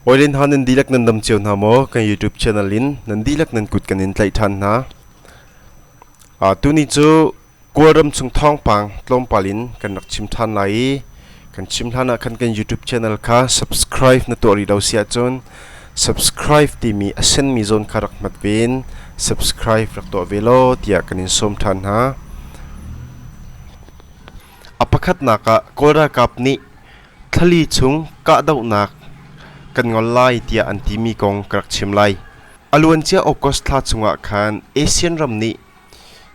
Hawi Lin Hao nan dihlak nan dam cio hna maw? Kan YouTube channel in nan dihlak nan kut kan in tlaih ṭhan hna. Uh, tuni cu Kawlram chung thawngpang tlawmpal in kan rak chim ṭhan lai i kan chim hlan ah khan kan YouTube channel kha subscribe na tuah rih lo si ahcun subscribe timi a senmi zawn kha rak hmat ve in subscribe rak tuah ve law tiah kan in sawm ṭhan hna. A pakhatnak ah Kawl ralkap nih Thlali chung kahdohnak kan ngol lai tiah an timi kong ka rak chim lai. A luancia August thla chungah khan ASEAN ram nih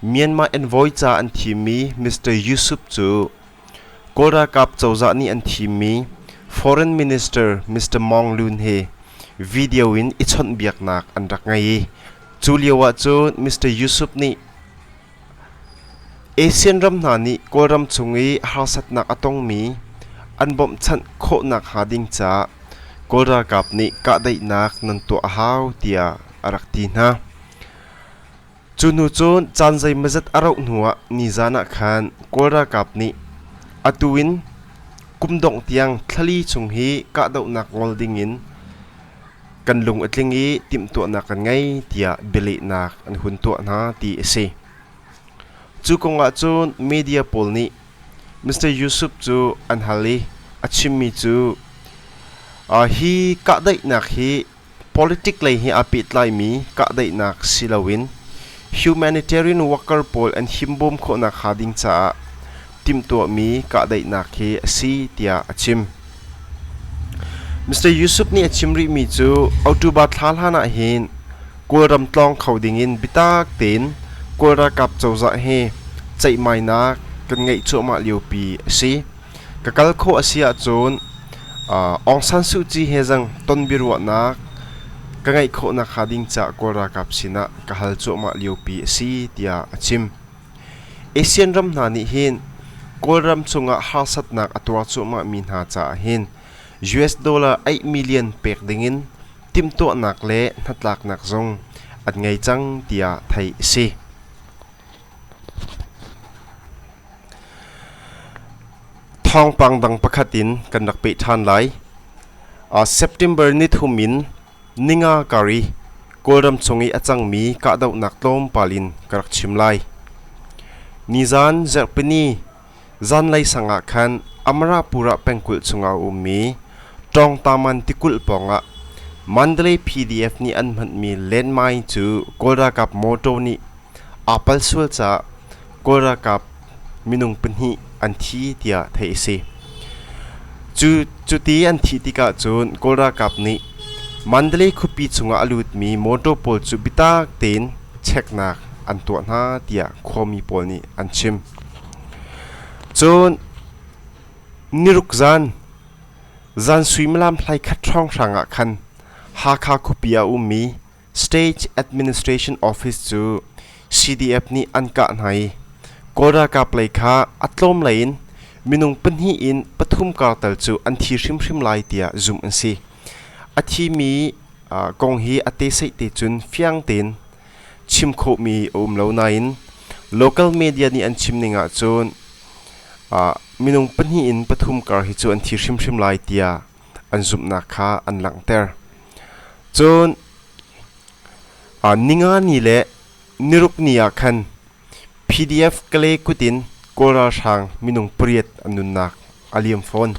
Myanmar envoy ca an thimmi Mr. Yusuf cu Kawl ralkap cozah nih an thimmi Foreign Minister Mr. Mong Lun he video in i chawnhbiaknak an rak ngei i cu lioah cun Mr. Yusuf nih ASEAN ram hna nih Kawlram chung i harsatnak a tongmi an bawmhchanh khawh nakhnga ding caah Kawl ralkap nih kahdaihnak nan tuah a hau tiah a rak ti hna. Cu hnu cun caan zeimazat a rauh hnu ah nizaan ah khan Kawl ralkap nih atu in kum dongh tiang thlali chung hi kahdohnak ngol ding in kan lung a tling i timhtuahnak kan ngei tiah bialehnak an hun tuah hna ti a si. Cu kongah cun media pawl nih Mr. Yusuf cu an hal i a chimmi cu uh, hi kahdaihnak hi politic lei he aa pehtlaimi kahdaihnak si loin humanitarian worker pawl an himbawm khawhnak hnga ding caah timhtuahmi kahdaihnak hi a si tiah a chim. Mr. Yusuf nih a chim rihmi cu October thla hlan ah hin Kawlram tlawng kho dingin bitak tein Kawl ralkap cozah he ceihmainak kan ngeih cuahmah liopi a si. Ka kal khawh a si ahcun Aung San Suu Kyi he zang ton biaruahnak ka ngeih khawh nakhnga ding caah Kawl ralkap sinah ka hal cuahmah liopi a si tiah a chim. Asian ram hna nih hin Kawlram cungah harsatnak a tuar cuahmah mi hna caah hin US dollar aih million pek dingin timhtuahnak le hnatlaknak zong an ngei cang tiah theih a si. Thawngpang dang pakhat in kan rak peh ṭhan lai. September nithum in Ninga kar i Kawlram chung i a cangmi kahdohnak tlawmpal in ka rak chim lai. Nizan Zarhpini zanlei sang ah khan Amarapur ah pengkulh chungah a ummi Tawngtaman tikulh pawngah Mandalay PDF nih an hmanmi landmine cu Kawl ralkap mawṭaw nih aa pal sual caah Kawl ralkap minung pahnih an thi tiah theih a si. Cu cuti an thih tikah cun Kawl ralkap nih Mandalay khuapi chungah a lutmi mawṭaw pawl cu biatak tein cheknak an tuah hna tiah khuami pawl nih an chim. Cun niruk zan zan suimilam hlai khat hrawng hrangah khan Hakha khuapi ah a ummi State Administration Office cu CDF nih an kah hna i Kawl ralkap lei kha a tlawm lei in minung pahnih in pathum kartal cu an thi hrimhrim lai tiah zumh an si. A thimi kong hi a teseih te cun fiang tein chim khawhmi a um lo nain local media nih an chim ning ahcun minung pahnih in pathum kar hi cu an thi hrimhrim lai tiah an zumhnak kha an langhter. Cun ningani le nirukni ah khan PDF Kale kut in Kawl ralhrang minung pariat an nunnak a liam fawn.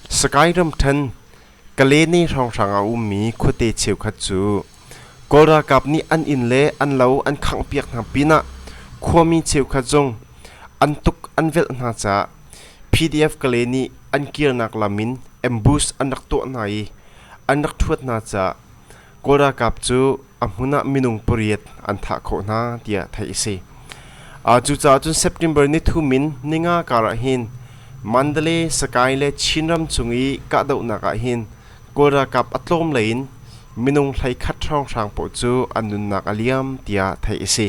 Sakae ram ṭhan Kalene hrawnghrang a ummi khuate cheukhat cu Kawl ralkap nih an inn le an lo an khangh piak hna pinah khuami cheukhat zong an tuk an velh hna caah PDF Kale nih an kirnak lam in ambush an rak tuah hna i an rak ṭhuat hna caah Kawl ralkap cu a hmun ah minung pariat an thah khawh hna tiah theih a si. Cucaah cun September nithum in ninga kar ah hin Mandalay, Sakae le Chinram cung i kahdohnak ah hin Kawl ralkap a tlawm lei in minung hlei khat hrawnghrang paoh cu an nunnak a liam tiah theih a si.